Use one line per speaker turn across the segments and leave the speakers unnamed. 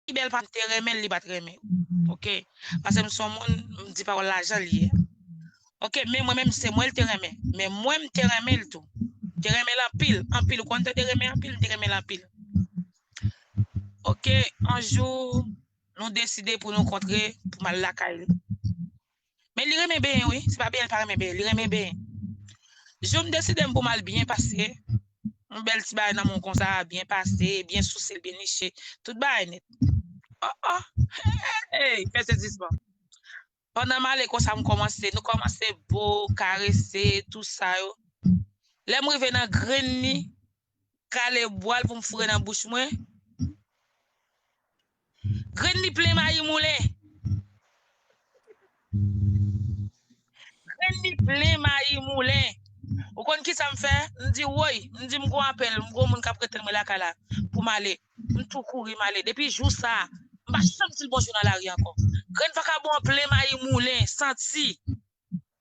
Pi bèl pam te renmenl li pat renmen ok pasem son moun m di pawòl la janl ye ok men mwen menm se mwenl te renmen men mwen m te renmenl tou te renmenl anpil anpil ou konn tande renmen anpil m te renmenl anpil ok yon jou nou deside pou nou kontre pou mal lakay li. Men li renmen benyen wi, se pa benyen li pa renmen benyen, li renmen benyen. Jou m deside m pou m al byen pase, yon bèl ti bagay nan men w konsa, byen pase, byen souse l, byen niche, tout bagay nèt. O o! Hey! Fè sezisman. Pandan m ale konsa m kòmanse, nou kòmanse bo, karese, tou sa yo. Lè m rive nan grenn li, kale bwal pou m foure nan bouch mwen. Grenn li plen mayi moulen. Grenn li plen mayi moulen. Ou konn ki sa m fè? M di woy, m di m gon apèl, m gon moun k ap rete mwen lakay la pou m ale. M tou kouri m ale. Depi jou sa a, m pa janm di l bonjou nan lari ankò. Grenn vakabon an plen mayi moulen, santi.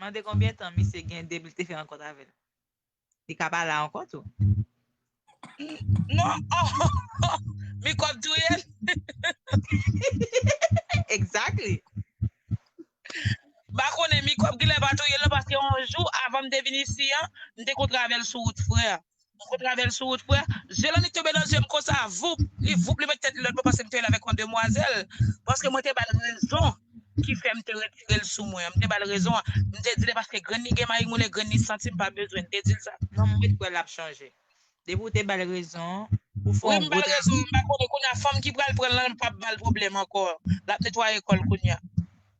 Mande konbyen tan misye gen depi l te fè rankont avè l. Li ka pa la ankò tou. Non,
ohh! Mikwòb touye l!
Exactly!
M pa konnen, mikwòb genlè pa touye l non paske yon jou avan m te vin isi an, m te kontre avè l sou wout frè. Gwo travel sou wout frè. Zye Landy tonbe nan zye m konsa voup, li voup li met tèt li lòtbò paske m te wè l avèk yon demwazèl, paske mwen te ba l rezon ki fè m te retire l sou mwen an, m te ba l rezon an, m te di l e paske grann li gen mari moun e grann li santi m pa bezwen, m te di l sa. Non m ret kwè lap
chanje. Depi ou te bal rezon ou fè yon gwo travay. Wi m bal
rezon m pa konnen kounya fanm ki pral pranl lan pap bal pwoblèm ankò lap netwaye kòl kounya.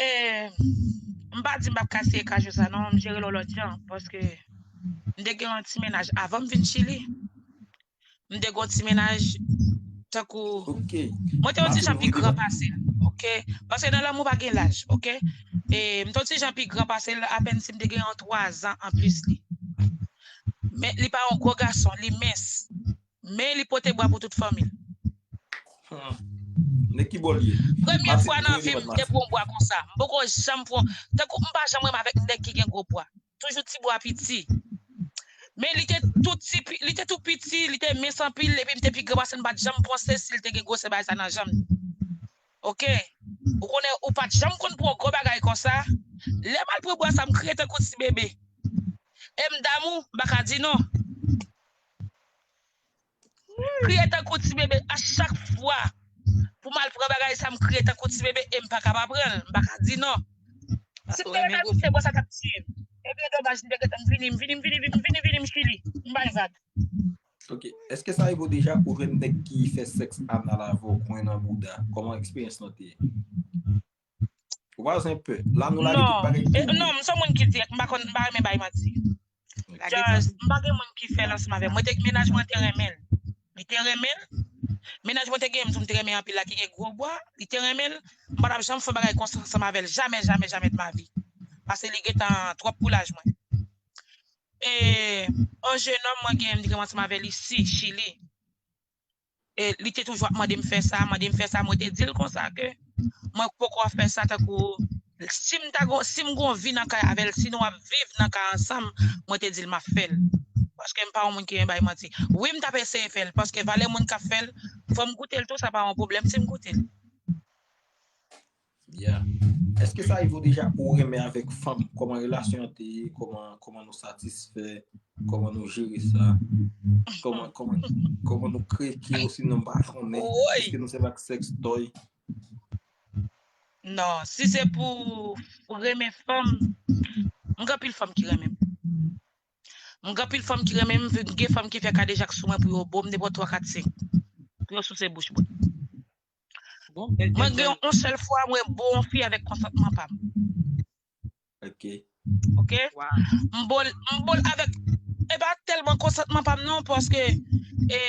Eeh
m pa di m pap ka siye kajou sa non, m jere l yon lòt jan paske m te gen yon ti mennaj avan m vin Chili m te gen yon ti mennaj tankou mwen
te yon ti jan
pi gran pase l ok paske nan lanmou pa gen laj ok e m te yon ti jan pi gran pase l apèn si m te gen yon 3 zan anplis li men li pa yon gwo gason li mens Men li pote bwa pou tout fanmi l. Nèg ki bo l ye. Premye fwa nan vi m te pran bwa konsa. M poko janm pran. Tankou m pa janm renmen avèk nèg ki gen gwo bwa. Toujou ti bwa piti. Men li te tou ti, li te tou piti, li te mens anpil epi m te pi gran pase l m pa t janm panse si l te gen gwosè bagay sa nan janm li. Ok. Ou konnen ou pa t janm konn pran gwo bagay konsa. Lè m al pran bwa sa m kriye tankou ti bebe. E m damou, m pa ka di non. Kriye tankou ti bebe a chak fwa pou mal pran bagay sa m kriye tankou ti bebe em paka pa pran l m paka di non. Si m te renmen vin se bo sa tap tiye m ebyen domaj m te gentan vini m vini m vini m vini vini m chili m bay vag. Ok
eske sa rive w deja pou w jwenn nèg ki fè sèks anal avè w kwen nan bouda kòman eksperyans lan te ye? Vwazen pè. La nou lage tout bagay pou li. Non, m son
moun ki dirèk, m pa konn, m pa renmen bay manti. Just, m pa gen moun ki fè lansman avè m. Mwen te, mennaj mwen te renmen l. Li te renmen l. Mennaj mwen te genyen m tou m te renmen anpil la ki gen gwo bwa, li te renmen l. M pa t ap janm fè yon bagay konsa ansanm avè l. Jamè, jamè, jamè de ma vi. Pase li gen tan twòp pou laj mwen. E yon jenòm mwen genyen m te genyen m ansanm avè li ici, Chili. E li te toujou ap mande m fè sa, mande m fè sa, mwen te di l konsa ke mwen poko ap fè sa tankou si m ta gon si m gon vi nan kay avè l, si nou ap viv nan kay ansanm, mwen te di l m ap fè l. Paske m pa yon moun ki renmen bay manti. Wi m t ap eseye fè l, paske valè moun k ap fè l, fò m goute l tou sa pa yon pwoblèm si m goute l.
Byen. Eske sa rive w deja pou w renmen avèk fanm? Kòman relasyon an te ye? Kòman nou satisfè? Kòman nou jere sa? Kòman nou kreke ou sinon pa konnen? Eske nou sèvi ak sèks tòy?
Non, si se pou renmen fanm, m gen anpil fanm ki renmen m. M gen anpil fanm ki renmen m, gen fanm ki fè kadejak sou mwen pou yo bo m depo 3, 4, 5. Pou yo souse bouch mwen.
Bon, bèl Mwen gen yon
sèl fwa mwen bo yon fi avèk konsantman pa m.
Ok. Ok?
M
bo l, m bo
l avèk e pa tèlman konsantman pa m non paske e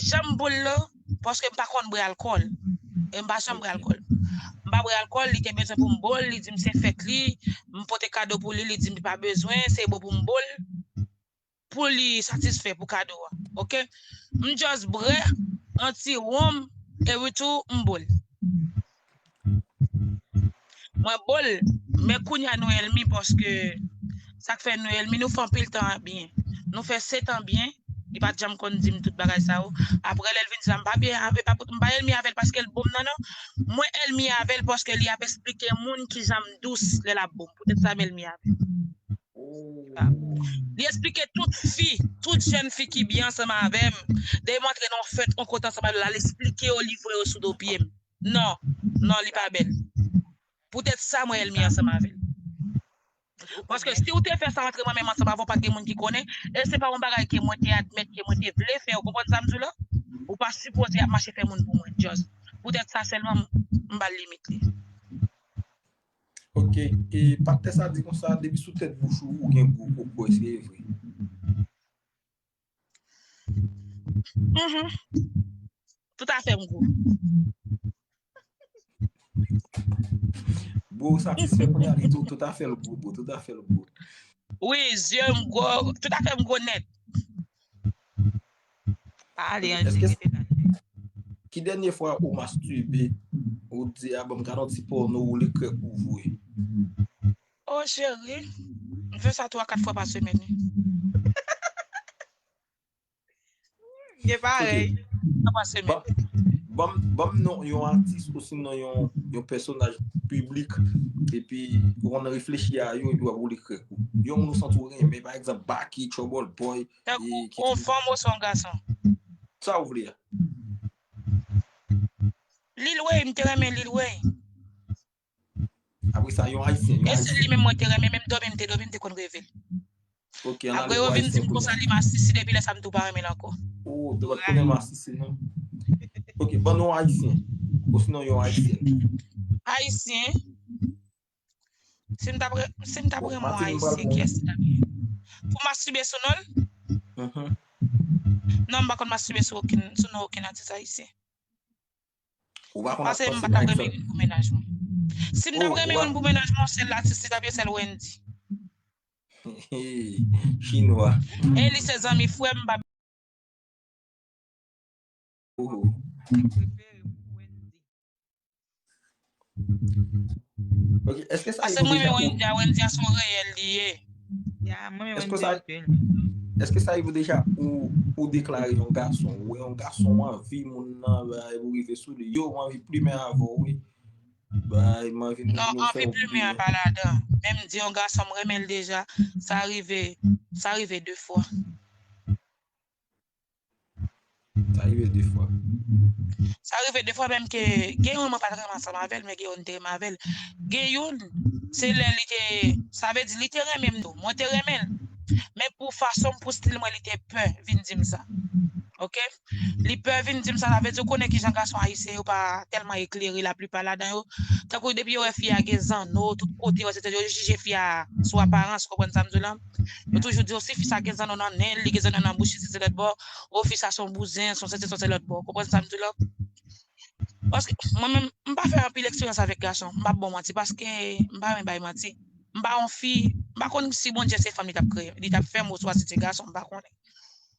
jan m bo l lan paske m pa konn bwè alkòl. E m pa janm bwè alkòl. M pa bwè alkòl, li te bezwen pou m bo l, li di m se fèt li, m pote kado pou li, li di m li pa bezwen, se bo pou m bo l. pou li satisfè pou kado a ok m just brè an ti wonm e wi tou m bol mwen bol men kounya nou elmi paske sak fè nou elmi nou fè anpil tan byen nou fè setan byen li pat janm konn dim tout bagay sa yo apre lèl vin sa m pa byen avè pa m pa elmi avèl paske l bom nan non mwen elmi avèl paske li ap esplike moun kijan m dous lèl ap bom poutèt sa m elmi avèl Li esplike tout fi, tout jèn fi ki byen ansanm avè m, dèyè m antre nan yon fèt, yon kote ansanm avè l, al esplike yo, livre yo sou do pye m. Non, non li pa bèl. Poutèt sa mwen èlmi ansanm avè l. Paske si ou te fè sa antre mwen menm ansanm avè w pa t gen moun ki konnen, e se pa yon bagay ke mwen te admèt, ke mwen te vle fè, ou konprann sa m di w la? Ou pa sipoze ap mache fè moun pou mwen just. Poutèt sa sèlman m ba l limit li.
Ok, e pastè sa di konsa depi sou tèt bouch ou ou gen gwo koko eske e vre?
Tout afè m gwo.
Bro ou satisfè kounye a li di ou tout afè l gwo bro, tout afè l gwo. Wi,
zye m gwo, tout afè m gwo nèt.
Pa ale an di rete la.
Ki dènye fwa ou masturbe ou t di a banm gad yon ti porno ou li krèk ou vwe.
Oh cheri, m fè sa 3 4 fwa pa semèn wi.
M gen parèy, m fè 3 pa semèn.
Banm
non yon atis osinon yon pèsonaj piblik epi ou konn reflechi a yo epi wap woule krèk ou. Yon moun ou santi w renmen pa egzanp Baky, Trouble Boy, Tankou on fanm
oswa on gason. Sa ou
vle a.
Lil Wayne m te renmen Lil Wayne.
Apre sa yon ayisyen. E se li menm mwen te
renmen menm domi m te domi m te konn reve l. Ok an ale pou ayisyen.
Apre yo vin di m
konsa li masisi depi lè sa m tou pa renmen l anko. Ou te pat konnen
masisi non. Ok ban non ayisyen. Osinon yon ayisyèn. Ayisyen.
Si m tap si m tap renmen ayisyen ki esti tap pou mastibe sou non l? Non m pa konn mastibe sou okenn sou non okenn atis ayisyen. Ou pa konn Pase m pa tap renmen youn pou menaj mwen. Si m tap renmen youn pou menaj mwen sèl atis li tap ye sèl Wendy.
Chinwa. E li se
zanmi frè m pa
Ok, eske sa Ase mwen yon india wendy
a son reyèl li ye. Ya, mwen yon india
anpil. Eske sa yon deja ou deklare yon gason? Ou yon gason ou anvi moun nan ba yon ou rive sou li. Yo ou anvi plumen avon ou. Ba yon anvi moun nan. Non, anvi plumen
an pa ladan. Men m di yon gason m renmen l deja. Sa rive, sa rive 2 fwa.
Sa rive de fwa. Sa
rive de fwa menm ke gen youn mwen pat renmen ansanm avèl men gen youn te renmen avèl. Gen youn se lè li te sa vle di li te renmen m tou. Mwen te renmen l men pou fason m pou stil mwen li te pè vin di m sa. Ok li pè vin di m sa sa vle di ou konnen kijan gason ayisyen yo pa tèlman eklere la plipa ladan yo tankou depi yo wè fi a gen zanno tout kote yo jije fi a sou aparans ou konprann sa m di w la. Yo toujou di yo si fisa gen zanno nan nenl, li gen zanno nan bouch li se se lòt bò, o fisa son bouzen, son sesi son se lòt bò. Ou konprann sam di la? Paske mwen menm m pa fè anpil eksperyans avèk gason, m pap baw manti paske m pa renmen bay manti. M pa yon fi, m pa konn si Bondye se fanm li tap kreye, li tap fèm oswa si se gason m pa konnen.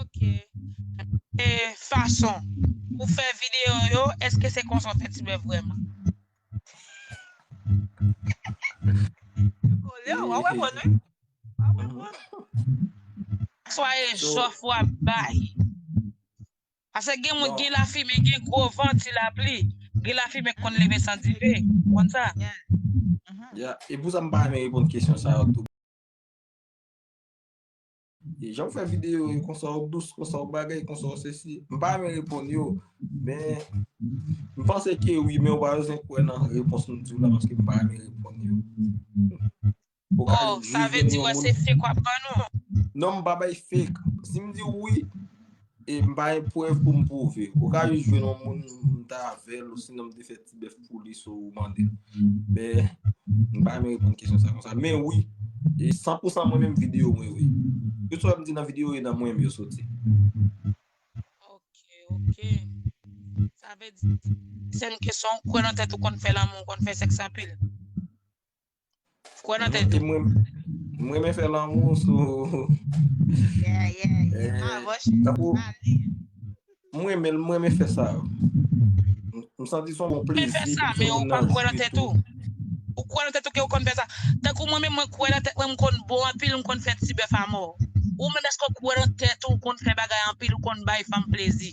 Ok. E fason ou fè video yo, eske se konsa ou fè ti bèf vreman?
Kole ou, ou wè moun wi. Ou wè moun.
Swa e jof ou ap
bay.
Ase gen moun gen la fime, gen
gwo
van, ti la pli. Gen la fime konn leve san dife. Konn sa?
Ya,
e pou sa m pa renmen reponn kesyon sa yo tou. Jan ou fè videyo yo konsa ou dous, konsa ou bagay, konsa ou se si. M pa renmen reponn yo, men m panse ke wi, men ou pa bezwen kwè nan repons m di w la paske m pa renmen reponn yo. Oh,
sa vle di wè se fake w ap ban nou? Non, m pa bay
fake. Si m di w wi, E m pa gen prèv pou m pwouve. Ou ka jis jwenn yon moun m ta avè l osinon m te fè ti bèf pou li sou mande l. Men, m pa renmen reponn kesyon sa konsa. Men wi, e san pou san mwen menm videyo mwen yo ye. Tout sa m di nan videyo yo nan mwen menm yo soti. Ok,
ok. Sa vle di, dezyèm kesyon, ou kwè nan tèt ou konn fè lanmou, ou konn fè sèks anpil? Kwè nan tèt ou. M renmen fè
lanmou sou.
Yeah, yeah, yeah. Ah, bon, cheri, Tankou- pa li.
M renmen l, m renmen fè sa. M santi son bon Mwen plezi. fè sa, pou men ou moun pa
nan
kwè
nan viv tèt tou. ou. Ou kwè nan tèt ou ke ou konn fè sa. Tankou mwen menm, mwen kwè nan tèt mwen, m konn bon anpil, m konn fè ti bèf a mò. Ou menm èske ou kwè nan tèt ou, ou konn fè bagay anpil, ou konn bay fanm plezi?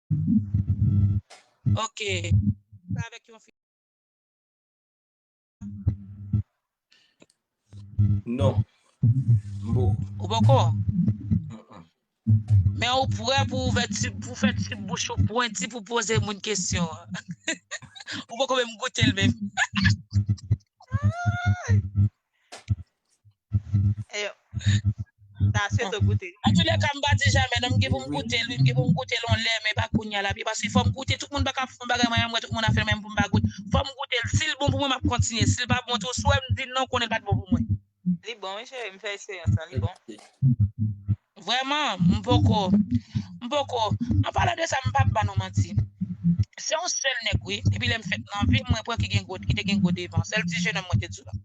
Ok. Sa avèk yon fi.
Non. Mbo. Ou poko?
Men ou prè pou ou vè ti, pou fè ti bouch ou pwenti pou poze moun kesyon. Ou poko menm goute l menm.
Eyo. Ta se to goute. An tou lè ka m pa di
jamè non m gen pou m goute l wi, m gen pou m goute l on lè men pa kounya la pi paske fò m goute tout moun pa ka fè yon bagay mwen menm m wè tout moun ap fè l men m pou m pa goute. Fò m goute l si l bon pou mwen m ap kontinye si l pa bon tou si w wè m di non konnen l pa t bon pou mwen. Li bon wi cheri
m fè eksperyans lan li bon.
Vrèman, m poko, m poko, an palan de sa m pap bannou manti. Se yon sèl nèg wi, depi lè m fèt nan vi m mwen pran ki gen gwo, ki te gen gwo devan, sèl ti jenòm mwen te di w la.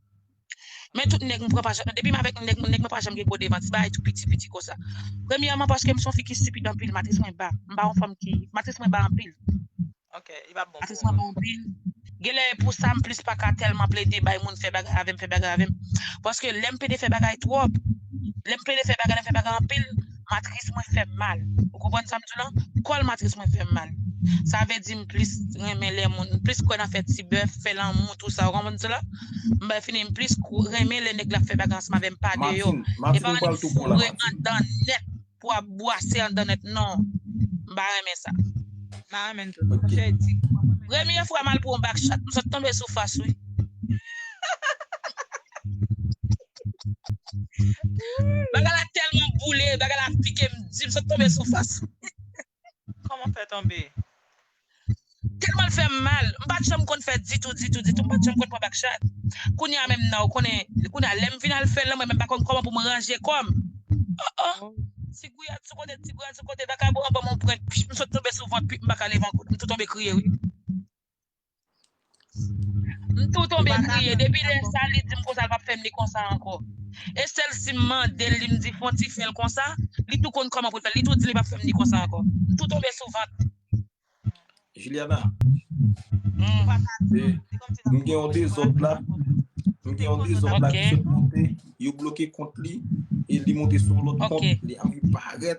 Men tout nèg m pran pa janm, depi m avèk nèg, nèg mwen pa janm gen gwo devan, ti bagay tou piti, piti konsa. Premyèman paske m se yon fi ki stipid anpil, matris mwen ba, m pa yon fanm ki, matris mwen ba anpil. Ok, li
pap bon pou ou non.
Genlè e pou sa m plis pa ka tèlman plede bay moun fè bagay avè m fè bagay avè m. Paske lè m plede fè bagay twòp, lè m plede fè bagay, lè m fè bagay anpil, matris mwen fè m mal. Ou konprann sa m di w lan? Kòl matris mwen fè m mal. Sa vle di m plis renmen lè moun, m plis kwè nan fè ti bèf, fè lanmou tou sa. Ou konprann sa m di w la? M bay fini m plis renmen lè nèg la ap fè bagay ansanm avè m pa deyò. Epa annik foure anndan
nèt.
pou ap bwase andan nèt non m pa renmen sa. Mpa renmen l tou
non. Chè di. Premye fwa mal
pran back chat m sot tonbe sou fas wi. Bagay la telman boule bagay la pikem di m sot tonbe sou fas. Koman
fè tonbe?
Telman l fè m mal, m pa t janm konn fè ditou, ditou, ditou, m pa t janm konn pran bak chat. Kounya menm nan, ou konnen, kounya lè m vin al fè l nan mwen menm pa konn kòman pou m ranje kò m. O o! Ti gouyad sou kote, ti gouyad sou kote, vakabon an ban m yon prenk, pfff, m sot tonbe sou vant, pip m pa ka leve ankò, m tou tonbe kriye wi. M tou tonbe kriye, depi lè sa li dim konsa l pap fèm li konsa ankò. E sèl sim mandel li m di fon ti fèl konsa, li tou konn kòman poul fèl, li tou dim li pap fèm li konsa ankò. M tou tonbe sou vant.
Juliana, m gen yon dezòd la, m gen yon dezòd la ki sot monte, yo bloke kont li, e li monte sou yon lòt kont, li anvi parèt.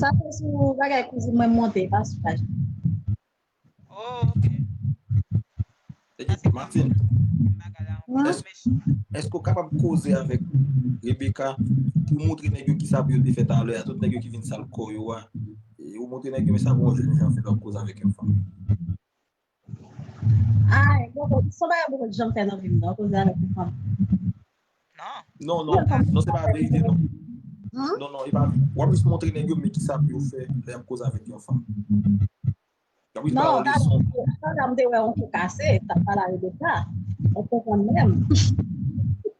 Sa se sou
bagay kouzin mwen monte pa sou paj
mwen. Oh ok. Martine.
Eske ou kapab koze avèk Rebecca pou moutre nèg yo kisa pou yo te fè talè a, tout nèg yo ki vin sal kò yo a. Ou moutre nèg yo men sa pou yon jèn jan fè lòt koze avèk yon fanm.
Ay, bon, bon, son bagay mwen pat janm fè nan vim nan, koze avèk yon fanm.
Non. Non, non, non se pa verite non. Hum? Non, non, e pa, wap jis montre nèg yo men ki sa pou yo fè lè yap koze avèk yon fanm. Yap jis
ba Non, yo ta leson. ta dam te wè yon kou kase, ta pala yo de sa. Ou konprann menm.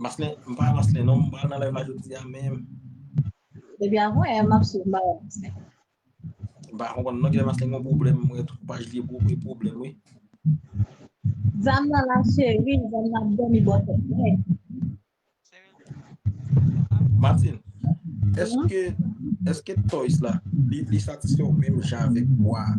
Maslin, m pa Maslin non, m pa nan live la jodi a men. Depi
avwe m ap sou ba
Maslin. M pa konpon non ki lè Maslin kon problem mwen tou paj li pou mwen problem wi.
Zam nan la cheri, zam nan ap domi bò tèt mwen.
Martin, eske eske toys la li satisfè ou menm jan avèk bwa a?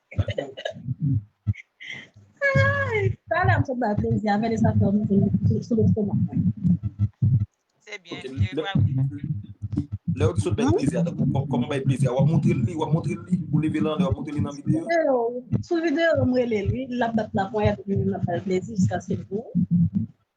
Ay, sa la m sot ba plezi a, vèlè sa fè m sou sou lestomak mwen. Se byen, Ok, e lè
ba lè
ou di sot bay plezi a, tankou kò- kòman bay plezi a, wap montre li, wap montre li, ou leve lan lè wap montre li nan video. Video, sou video
m rele li, lap bat laponyèt epi m ap fè l plezi jiskaske l gou.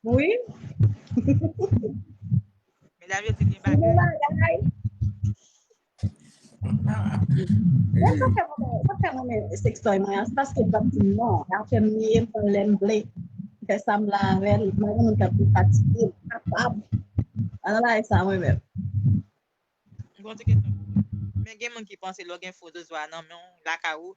Wi. Medam yo di gen bagay.
Mwen sa fè mwen, sa fè mwen mwen sextoy mwen an, se paske bab di non, apre m liye m pran lè m vle, m fè sa m vle avè l, mwen menm m ta pi fatige, m pa kapab. Ala bagay sa mwen menm.
Mwen gen moun ki panse lè w gen fo zozwa nan men w, lakay ou,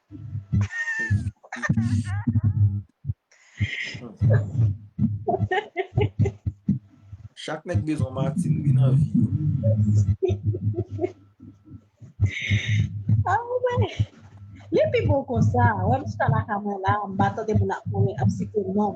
Chak nèg bezwen Martine wi nan vi yo.
Ah ouais. Li pi bon konsa. Wè m chita la kamè la, m pa tande moun ap konnen ap site nom.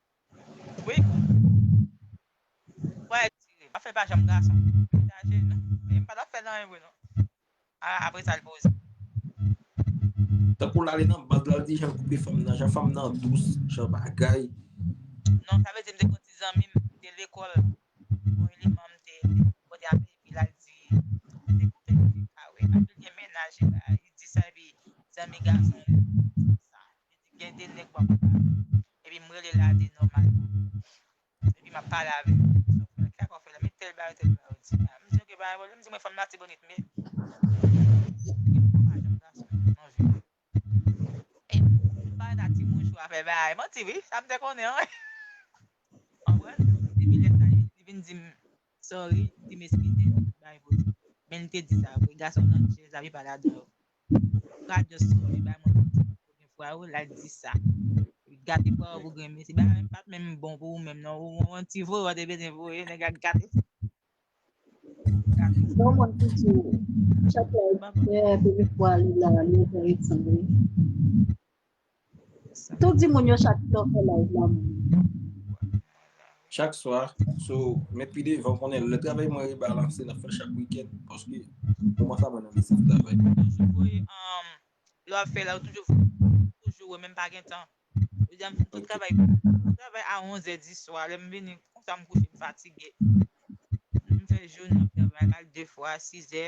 Wi. Wè tire. Afè pa janm gason. Degaje nou. Li pa tap fè nan anyen vre non. A apre sa li poze.
Tankou lale nan bank lal di jan koupe fanm nan jan fanm nan dous jan bagay. Non
sa vle di m te gon ti zanmim te lekòl bon eleman m te pote avè li epi lal di li te koupe li te kare apil gen mennaj li di sa epi zanmi gason li di sa. Gen de nèg wap pale epi m rele la de nòmal epi map pale avèl kisa kòw fè la men tèl bagay tèl bagay di la m di ok pa gen pwoblèm m di mwen fanm latibonit men m pa nan ti mouchwa fè bagay manti wi sa m te konnen anmwey konprann depi lè sa li vin di m sorry li di m eskize men li te di sa vre gason nan jèz la pi pa ladan yo Sa just ti moun li bay mwen pou ti koken fwa yo lal di sa. Li gate fwa yo pou grenn mesi. Bagay menm pat menm bon pou ou menm non. Ou on ti voye ou te bezwen voye nèg la gate. Bon mwen ki
di ou. Chak la e bè premye fwa li la li ou fè ret sanble. Tout di moun yo chak fwa w fè live la moun yo di.
Chak swa, so met pi devan ou konnen lè travay mwen rebalanse nan fè chak weekend paske moman sa mwen nan lisans travay. Mwen toujou voye um lè
wap fè la ou toujou toujou wè men mpa gen tan. Jodi a mfin tout travay mwen. Mwen travay a 11 è di swa lèm vini konsa mkouche mfatige. Mfè jounen ap travay al 2 fwa 6 è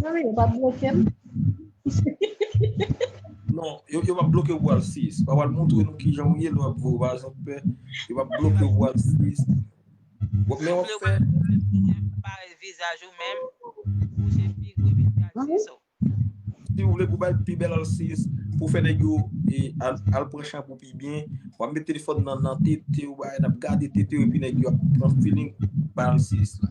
Mwen mwen yo pa bloke m. Non, yo pa bloke ou al sis. Pa wal montre nou ki jan ou ye lò ap vò vazan pè. Yo pa bloke ou al sis. Wap men wap fè. Pare
vizaj ou men. Ou se pi gwe pi gwe
al sis ou. Si ou vle pou bay pi bel al sis. Pou fè nèg yo al pran chanpou pi byen. Wap met telefon nan nan tete ou bay. Nap gade tete ou epi nèg yo ap pran feeling bay al sis la.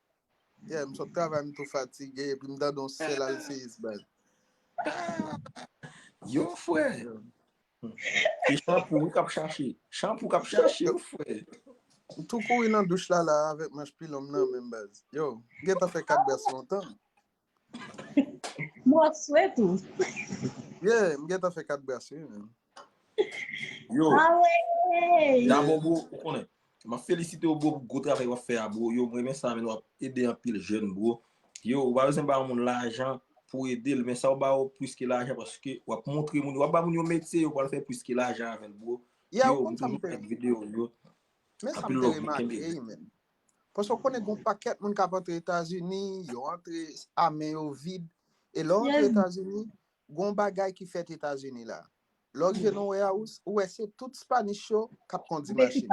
Yeah, m sot travay m tou fatige epi m tande yon sèl alseyis bay.
Yo fwe! Se chanpou wi kap chache. Chanpou kap chache yo fwe. M
tou kouri nan douch la la avèk manch pilon m nan men m baz. Yo, m gentan fè 4 bès lontan.
Mwen swe tou. Ye,
m gen ta fè kat brase. Yo. A ah we.
Ya
bon bro, ou konnen.
Ma felisite ou bro pou gwo travay wap fè a bro. Yo mwen men sa men wap ede an pil jen bro. Yo, ou ba wèzen ba yon moun lajan pou ede l men sa ou ba ou pwis ki lajan paske wap montre moun. Wap ba moun yon metye yo wap fè pwis ki lajan avèn bro. Yo, mwen toujou fè video yo. Men sa m te
remake e men. Paske ou konnen gen yon pakèt moun k ap antre Etazini, yo antre a men yo vid. E lè w antre Etazini, gen yon bagay ki fèt Etazini la. Lè w rive nan yon warehouse, ou wè se tout Spanish yo k ap kondi machin.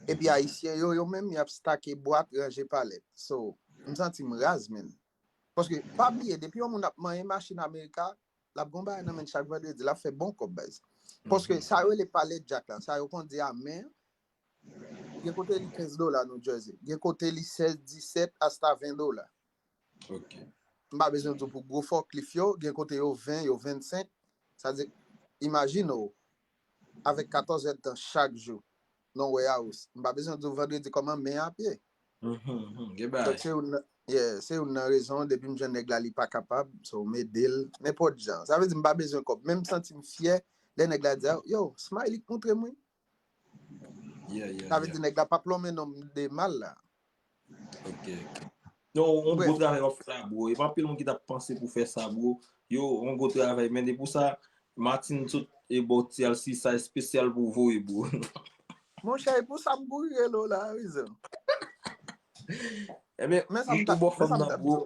Epi Ayisyen yo, yo menm, y ap stake bwat, ranje palèt. So, m santi m raz, menn. Paske, pa bliye, depi yon moun ap manyen machin Amerika, l ap gen yon bagay nan men l chak vandredi. L ap fè bon kòb, baz. Paske, sa yo rele palèt djak la, sa yo kondi a men, Gen kote li 15 dola New Jersey. Gen kote li 16, 17, asta 20 dola. Ok.
M pa bezwen
di w pou gwo fòklif yo, gen kote yo 20, yo 25. Sa vle di, imajine w, avèk 14 èdtan chak jou nan yon warehouse, m pa bezwen di w vandredi kòman men an ap ye. Gen bagay. Donk se youn nan, yeah, se youn nan rezon, depi m jwenn nèg la li pa kapab, so m ede l nenpòt jan. Sa vle di m pa bezwen kòb, men m santi m fyè lè nèg la di, yo, Smiley k montre m wi. Sa vle di nèg la pap lonmen nom de mal la. Ok.
Yo, on gwo travay wap fè la bro. Epa anpil moun ki tap panse pou fè sa bro. Yo, on gwo travay men e pou sa Martine sot e ba w ti alsi sa espesyal pou w voye bro. Mon chè
e pou sa m kouri rele w la wi zen.
Enben, ou bo fanm nan bro.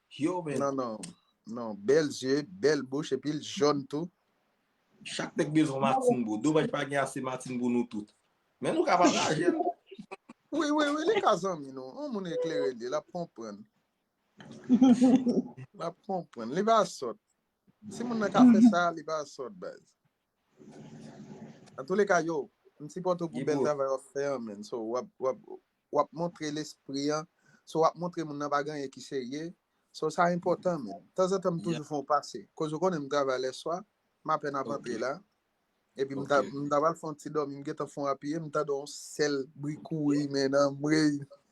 Yo men. Nan nan. Nan bèl
zye, bèl bouch epi l jòn tou. Chak
nèg bezwen matin bro. Domaj pa gen ase matin pou nou tout. Men nou ka pataje l. Wi
wi wi li ka zanmi nou. On moun eklere li, l ap konprann. L ap konprann. Li pa sòt. Si moun nan ka fè sa, li pa sòt baz. An tou le ka yo, m sipòte w pou bèl travay wap fè an menn. So wap wap wap montre lespri an, so wap montre moun nan pa gen anyen ki serye. So sa enpòtan menn. Tanzantan m toujou fè yon pase. Koz ou konnen m travay lèswa, m apèn ap antre la. Epi m ta m ta pral fè yon ti dòmi, m gentan fè yon apiye, m tande yon sèl bri kouri men anmweyy.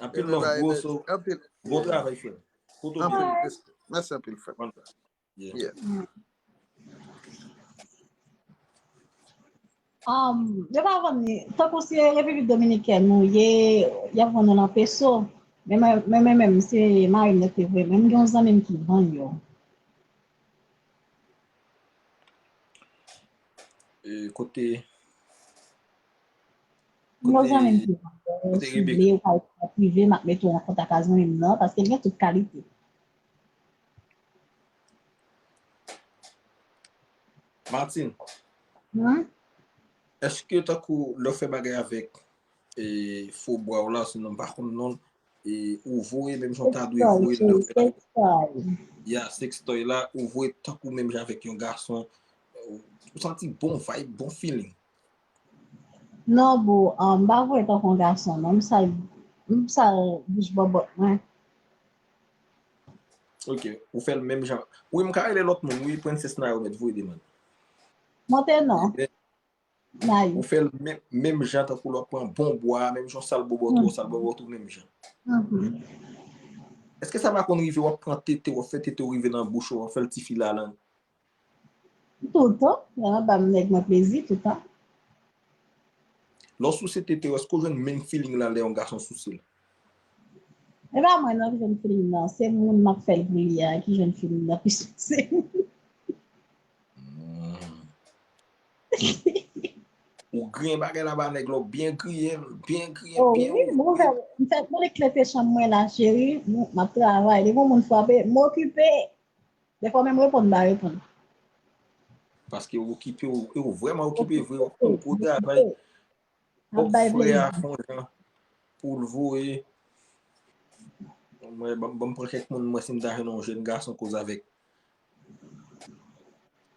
Anpil love
bro
so. Bon travay frem. Mèsi anpil frem. Yo pa vwam ni. Fok ou se repivit dominiken nou ye. Yap vwam nan peso. Men men men se may mwen te vwem. Men gen yon zan men ki vwam yo.
Kote. Kote
Rebecca? Mwen pa ekri an prive, m ap mete w an kontak ak zanmi m nan, paske l gen tout kalite.
Martine, èske tankou lè w fè bagay avèk fo bwa w la, se nan m pa konn non l, ou voye menm jan w ta dwe voye l nan fè? Sextoy. Ya, sextoy la, ou voye tankou menm jan avèk yon gason, ou santi bon vibe, bon feeling.
Non boo m pa voye tankou yon gason non m sal bouch bòbòt mwen.
Ok ou fèl menm jan. Wi m ka rele lòt moun wi princess nayoo mèt voye demand. Monte
non
nayoo. Ou fèl menm jan tankou lòt pran bon bwa menm jan w sal bòbòt ou sal bòbòt ou menm jan. Eske sa pa konn rive wap pran tete wap fè tete w rive nan bouch ou wap fèl ti fil a lang.
Toutan, nan anba m nèg mwen plezi toutan. Lè
w souse tete w èske w jwenn menm feeling lan lè yon gason souse l?
E pa mwen non ki jwenn feeling lan, se moun m ap fè l pou li a ki jwenn feeling lan plis pase
m. Ou griyen bagay la ba nèg la, ou byen griyen l, byen griyen l, byen ouvri
l. O wi, m fè konnen klete chanm mwen la cheri, m ap travay, depi yon moun frape, m okipe. Defwa menm reponn pa reponn.
Paske ou okipe ou, e ou vreman okipe vre, ou konn gwo travay. Fok frè a fon jan pou l voye. Mwen banm pran kèk moun mwen si m ta jwenn yon jèn gason koz avèk.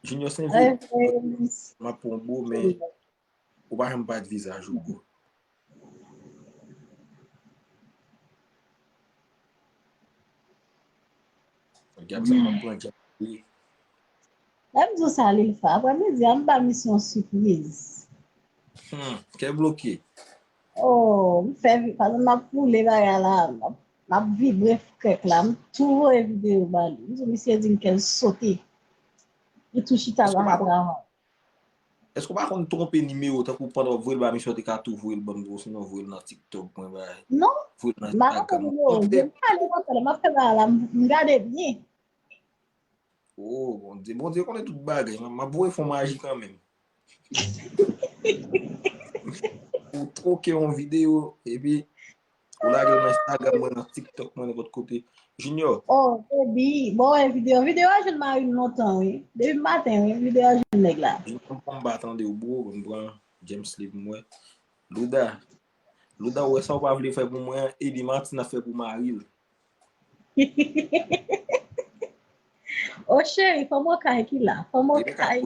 Junior Saint-Gilles, m ap pran w bro men Ou pa janm bat vizaj ou bro. Gab sa pa pran djab
li. Lè m di w sa li l fè. Aprè midi a m ba misye yon sipriz. Hum,
kè bloke. Oh,
m fè vi, paske m ap woule bagay la, m ap vibre krèk la, m tou voye video ba li. M di w misye di m kè l sote. Li tou chita la ap travay.
Eske ou pa konn twonpe nimewo tankou pandan wap voyel ba misye ou te ka tou voyel banm tou osinon voyel nan tiktok mwen bay. Non, ma pa konn nimewo
ou, depi mwen ale nan tel map fè bagay la m gade byen. Oh
bondye, bondye konnen tout bagay, map voye fon maji kanmenm. Ou twoke yon video epi Ou lagel nan Instagram mwen nan tiktok mwen nenpot kote. Junior. Oh baby,
bon wè video. Video a jwenn marim lontan wi. Depi maten wi video a jwenn nèg la. Junior m pran ba tande
w bro, m pran James Lee pou mwen. Louda, Louda ou wè sa ou pa vle fè pou mwen an, ede Martine ap fè pou maril.
Oh cheri fanm okay ki la, fanm okay.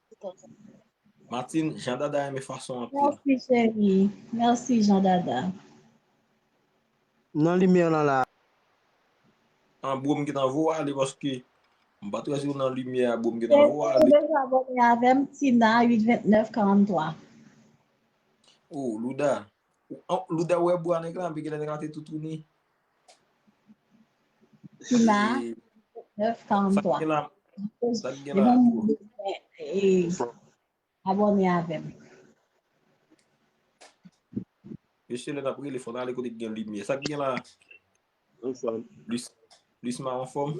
Martine, Jean Dada renmen fason anpil. Merci chérie.
Merci Jean Dada.
Non lumière lan la.
An bro m gentan vo ale paske m pat wè si w nan limyè a bro m gentan vo ale. Ou deja
abone
avèm
Tina 82943.
Oh Louda, Louda ou wè bwa nèg la anpi genlè nèg la te toutouni.
Kina, 9,
43.
Abone avem.
Mesye le nap rele fon ale kote gen limye. Sak gen la? Anfom. Lis ma anfom?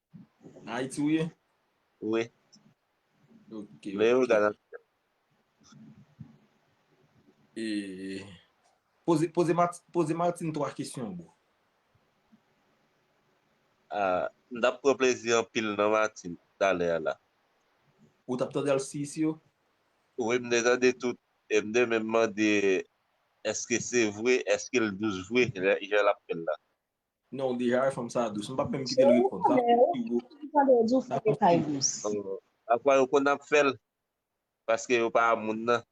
Nan Ayiti ou ye? Wi. Ok. Lè yo
gade.
Poze Martin 3 kesyon bro.
M tap pran plezi anpil nan Martin talè a la. Ou tap
tande al si isi yo? Wi m te
tande tout e m te menm mande eske se vre, eske l dous vre jan l ap fè l la. Non ou deja
wè fanm sa dous. M pap menm kite l reponn. Sa fè
pi wo.
Ki jan lè w di w fanm yo pay dous? Pafwa
yo konn ap fè l paske yo pa moun nan.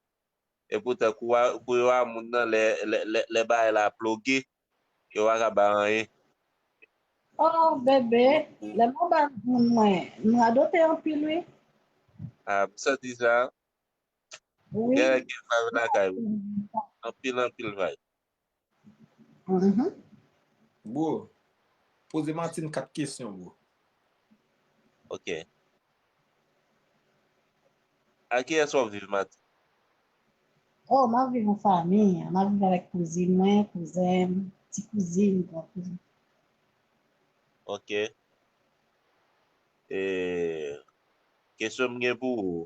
Epoutan kou yo a moun nan lè bagay la ploge yo pa ka bay anyen. Oh
bebe, lè mwen bay moun mwen, m radote anpil wi. Ah m
santi sa.
Gen vibe
lakay ou. Anpil anpil vibe.
Bro, poze Martine 4 kesyon bro.
Ok. A kiyès wap viv Martine?
Oh, map viv an fami. Map viv avèk kouzin mwen, kouzen m, ti kouzin, gran kouzin. Ok. E,
kesyon m gen pou ou,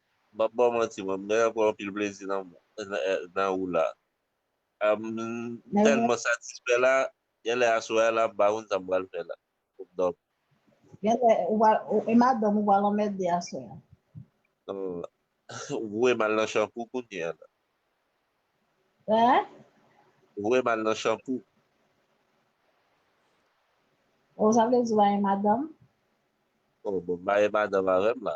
Map baw
manti mwen mwen pran anpil plezi nan ou la m
telman satisfè la
genlè aswè a la pa konn sa m pral fè la pou m domi. Genlè ou pa
e madanm ou pral anmède aswè
a. Ou voye m al nan chanpou kounye a la.
Hein? Ou voye m al
nan chanpou.
Oh sa vle di ou pa gen madanm?
Oh bon m pa gen madanm avè m la.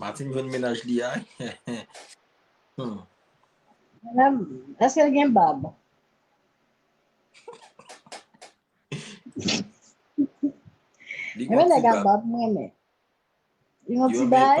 Matin jwenn menaj li a. Hmm.
Madame, est-ce qu'elle gen bab?
Li Mwen gon nèg ti a bab. bab mwen men.
Li yon Yo ti men- bay?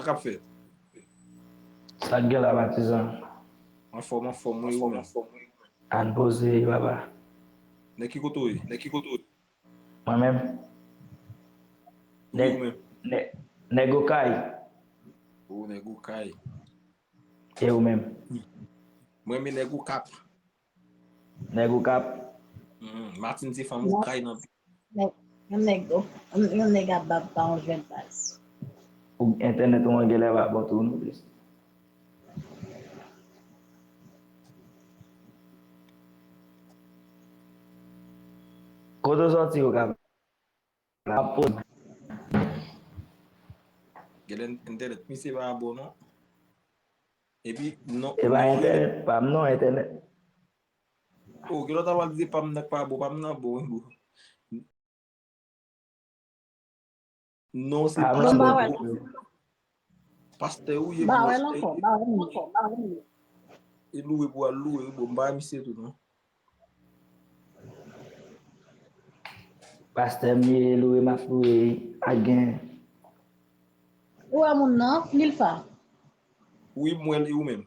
Sa kap fèt?
Sak gen la patizan? Anfòm
anfòm wi ou menm? Ann poze
papa. Nèg ki
kote ou ye? Mwen
menm?
Wi ou menm? Nèg
okay. Ou
nèg okay.
E ou menm? Mwen
menm nèg okap.
Nèg okap. Martine
se fanm okay nan pi. Yon nèg
yon nèg ap bab pa yon jwèt baz. Ou
entènèt ou an gèlè pa bon tou non plis. Kote w sòti okap? Map poze.
Gade entènèt misye pa bon non. Epi non. E pa entènèt
pam non entènèt.
Oh gen lòt apal di pam nan k pa bon pam nan bon wi bro. Non se pam nan bon. Pastè ou ye pou wè
ankò. E
louwe pou al louwe wi bro. M pa wè misye tou non.
Pastè m ye e louwe map louwe wi. A gen.
Ou wè moun nan, Milfa? Wi
m wè l e ou menm?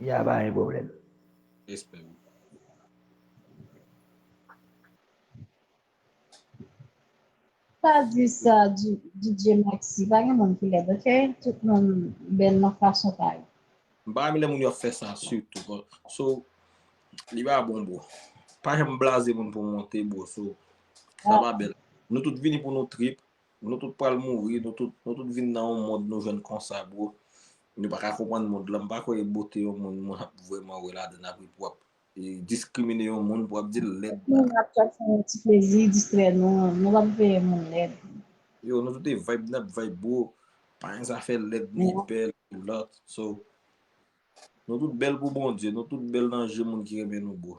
Ya pa gen problem. Respect wi.
Pa di sa DJ Maxi, pa gen moun ki lèd ok, tout moun bèl nan fason pa yo. M pa renmen lè moun
yo ap fè sa sitou bro. So li pa bon bro. Pa janm blaze moun pou monte bro so sa pa bèl. Nou tout vini pou nou trip Nou tout pral mouri, nou tout, nou tout vin nan yon mond nou jwenn konsa bro. Nou pa ka konprann mond lan, m pa kwè e bote yon moun moun ap vrèman wè ladann apre pou ap diskrimine yon moun pou ap dil lèd la. Moun ap chèche yon
ti plezi distrè nou, nou pap veye moun lèd. Yo nou tout e
vibe nap vibe bro, pa gen zafè lèd ni bèl ni lòt so nou tout bèl pou Bondye, nou tout bèl nan je moun ki renmen nou bro.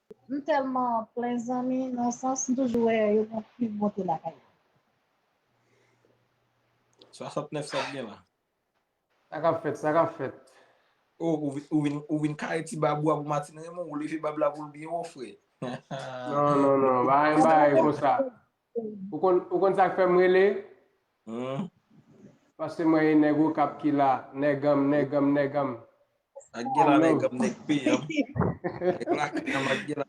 M telman plen zanmi non sans m toujou wè yo gen anpil bonte lakay yo. 69
sa ap gen la. Sa kap
fèt, sa kap fèt. Oh
ou vin kare ti bab ou a pou Martine Raymond, ou leve bab la pou l byen wo frè. Non non
non, pa gen bagay konsa. Ou konn ou konn sak fèm rele? Humm. Paske mwen e nèg okap ki la, nèganm, nèganm, nèganm. Ak gen
la nèganm nèg peyanm. Nèg
lakanyanm ak
gen la.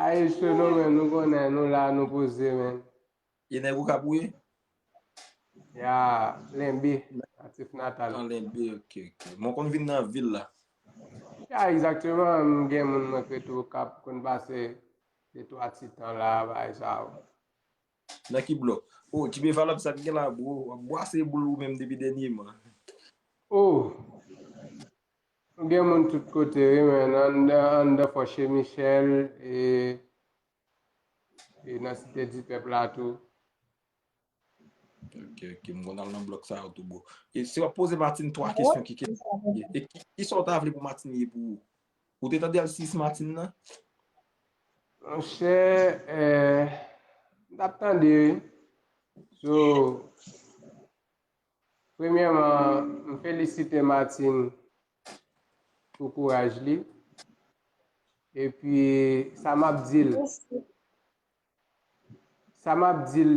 Ayi
Solo
men nou konnen nou la
nou
poze men.
E nèg okap ou ye?
Ya Lenbe, natif natal. Nan Lenbe ok ok.
Mwen konn vin nan vil la. Ya
exactement m gen moun mwen k rete okap konn pase. De twa ti tan la bagay sa yo bon. Nan
ki blòk? Oh Djibe Valab sak gen la bro? Wap bwase boul ou menm depi dènyeman. Oh!
Nou gen moun tout kote wi men anndan fò che Michel e nan site dipèp la tou.
Ok, ok, mwen al nan blok sa yo tou bo. E se wap pose Martine 3 kesyon ki kèm. E ki sa w ta vle pou Martine ye pou ou? Ou te tande al 6 Martine nan? Mwen chè, e,
mwen tap tande wi. So, premyèman, mwen felisite Martine pou kouraj li. E pi, sa map di l. Sa map di l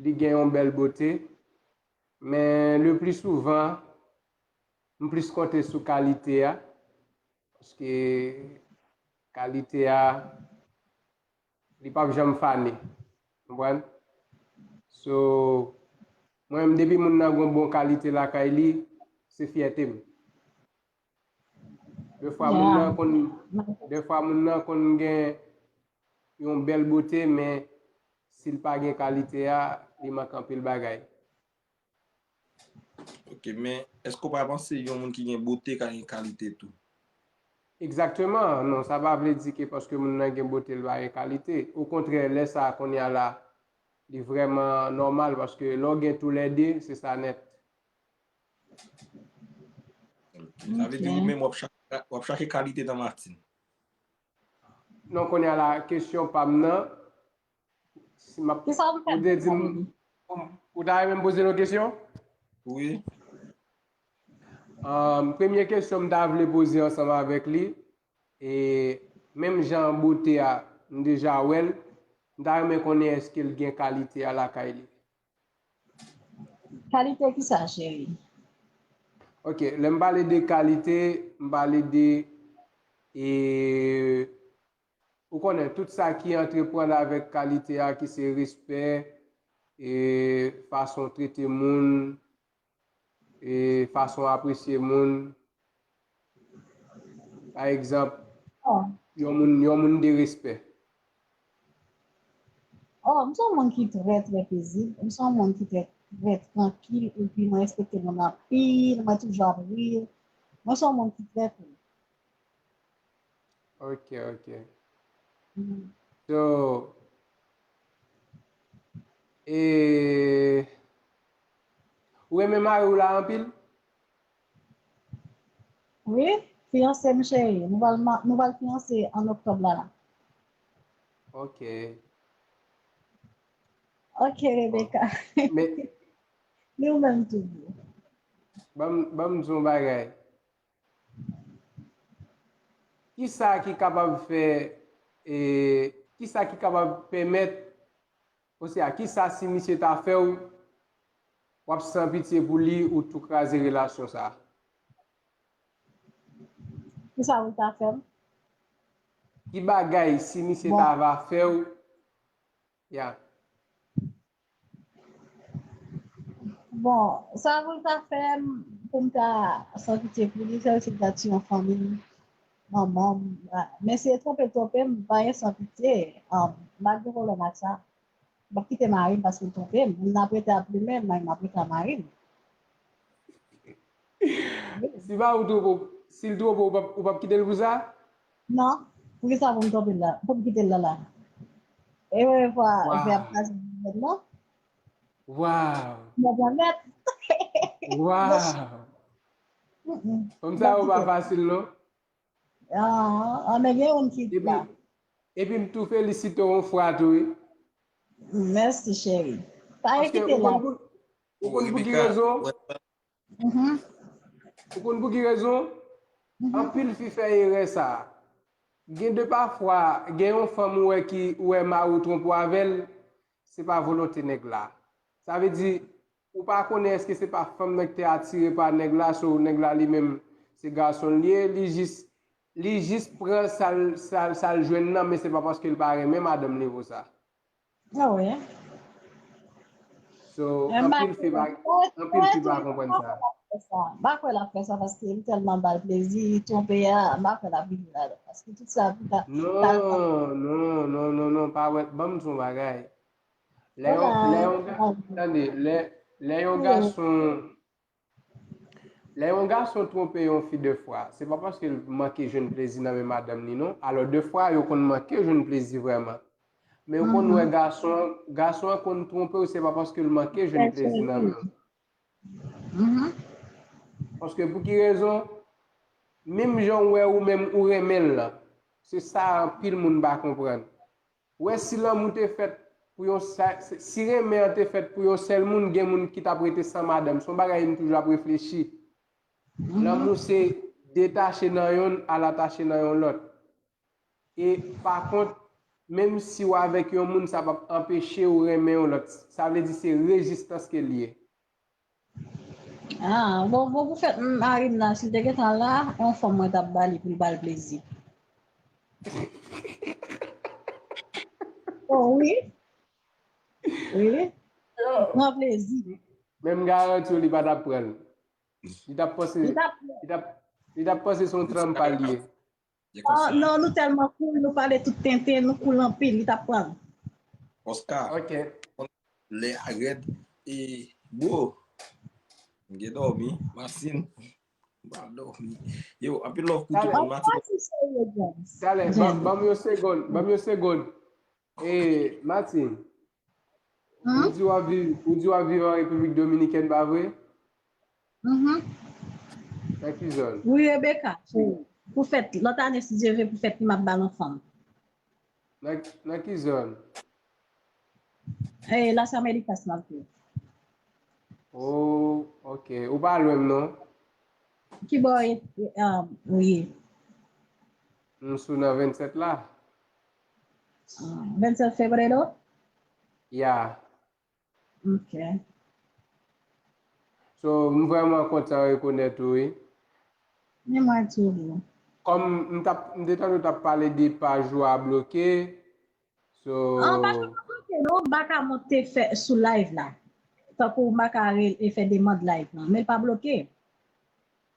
li gen yon bèl bote, men le pli souvan m plis konte sou kalite a, paske kalite a li pap janm fane, konprann? So mwen menm depi moun nan gon bon kalite lakay li, se fyète m. De fwa moun nan konn de fwa moun nan konn gen yon bèl bote men si l pa gen kalite a li mank anpil bagay.
Ok men èske ou pa panse yon moun ki gen bote ka gen kalite tou? Egzakteman,
non sa pa vle di ke paske moun nan gen bote li pa gen kalite. Okontrè lè sa konnya la li vrèman nòmal paske lè w gen tou lè de se sa nèt.
Sa vle di ou menm wap chache kalite nan Martine.
Non konya la kesyon pam nan. Kisa ou ta renmen dim. Ou ta renmen poze yon kesyon? Wi. Premye kesyon m ta vle poze ansanm avèk li. E menm jan bote a m deja wèl. M ta renmen konnen eske l gen kalite a lakay li.
Kalite ki sa cheri?
Ok, lè m pale de kalite, m pale de e ou konnen tout sa ki antreprann avèk kalite a ki se respè, e fason trete moun, E fason w apresye moun. Pa egzanp, yon moun yon moun de respè.
Oh, m se yon moun ki trè trè pezib. M se yon moun ki trè trè trankil epi mwen respekte moun anpil. Mwen toujou ap ri. Mwen se yon moun ki trè cool.
Ok, ok. So, e. Ou renmen mariw la anpil?
Wi, fiyanse m cheri. Nou pral nou pral fiyanse an oktòb la la.
Ok.
Ok Rebecca.
Ni ou
menm tou boo. Banm
banm di yon bagay. Kisa ki kapab fè e kisa ki kapab pèmèt Ose a kisa si misye ta fèw wap san pitye pou li ou tou kraze relasyon sa.
Kisa ou ta fèm.
Ki bagay si misye ta va fèw ya.
Bon sa voul ta fèm poum ta san pitye pou li sèl sil ta tiye yon fanmim Manman m Mesye twonpe twonpe m vanyan san pitye M ap gen pwoblèm ak sa M ap kite mari m paske l twonpe m M ap rete ap plimen m M ap rete ak mari m
Si mari w twonpe w Si l twonpe w ou p ap kite l pou sa? Non
Poukisa pou m twonpe l la Pou m kite l la la E premye fwa fè a ap kraze nan vant mwen Waww
Mwen pran nèt Waww Fanm sa yo pa fasil non. An
men gen youn ki la. Epi m tou
felisite w on fwa tou wi.
Mèsi cheri. Pa ezite la.
Ou konn pou ki rezon? Ou konn pou ki rezon? Anpil fi fè erè sa. Gen de pa fwa gen yon fanm ou wè ki ou wè mari w twonpe w avè l se pa volonte nèg la. Sa vle di Ou pa konnen eske se pa fanm nan ki te atire pa nèg la so nèg la li menm se gason li ye li jis li jis pran sal sal jwenn nan men se pa paske li pa renmen madanm li pou sa. Ah
wi. So
anpil fi pa anpil fi pa konprann sa. M pa kwè lap
fè sa paske li tèlman bal plezi li twonpe a m pa kwè lap rive la dan paske tout sa pou ta. Non non non
non non pa wè banm di yon bagay Lè yon,
lè yon, tande,
lè, lè yon gason, lè yon gason twonpe yon fi de fwa, se pa paske l manke jwenn plezi nan men madanm li non, alò de fwa yo konn manke jwenn plezi vrèman, men yo konn wè gason an, gason an konn twonpe w se pa paske l manke jwenn plezi nan men w. Paske pou ki rezon, menm jan w wè ou menm ou renmen l lan, se sa anpil moun pa konprann. Ou wè si lanmou te fèt pou yon si renmen an te fèt pou yon sèl moun gen moun ki tap rete san madanm son bagay m toujou ap reflechi lanmou se detache nan yonn al atache nan yon lòt e pa kont menm si w avèk yon moun sa pap anpeche w renmen yon lòt sa vle di se rezistans ke l ye. Ah
bon bon pou fèt marim nan sil te gentan la yon fanm mwen tap ba li poul bal plezi. Oh wi wi li pran plezi. Men m garanti
w li pa tap pran. Li tap panse son tranm pa l ye.
Non nou telman cool nou pale tout tenten nou cool anpil li tap pranl. Oscar
lè
a rèd e bro m gen dòmi masin m pa dòmi yo anpil love pou tout moun matin. Talè banm yon segond
banm yon segond. Hey Martine, ou di wap viv, ou di wap viv an Repiblik Dominikèn pa vre? Uhmm. Nan ki zòn? Wi Rebecca, pou
pou fèt lòt ane si Dye vle pou fèt li map bal yon fanm. Nan
nan ki zòn?
Hey Las Americas map viv. Oh
ok, ou pa lwen m non. Ki
bò ou ye?
M sou nan 27 la. 27
fevrero? Ya. Ok.
So, m vreman kontan rekonèt ou wi. Ni
mwen tou wi. Kom m tap,
m te tande w tap pale de paj ou a bloke, so. An,
paj mwen pa bloke non, m pa ka monte fè sou live la. Tankou m pa ka ale fè demand live lan, men l pa bloke.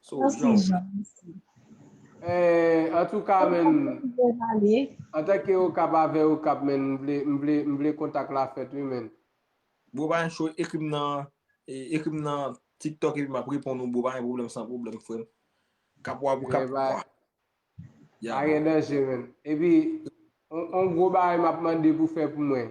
So Jean
mesi. Eh antouka men antanke okap avè okap men m vle kontak la fèt wi men. Bro pa gen
cho ekrim nan ekrim nan tiktok epi map reponn ou bro pa gen pwoblèm san pwoblèm frèm. Kap wap ou kap wap wap.
Pa gen danje men. Epi on gwo bagay map mande pou fè pou mwen.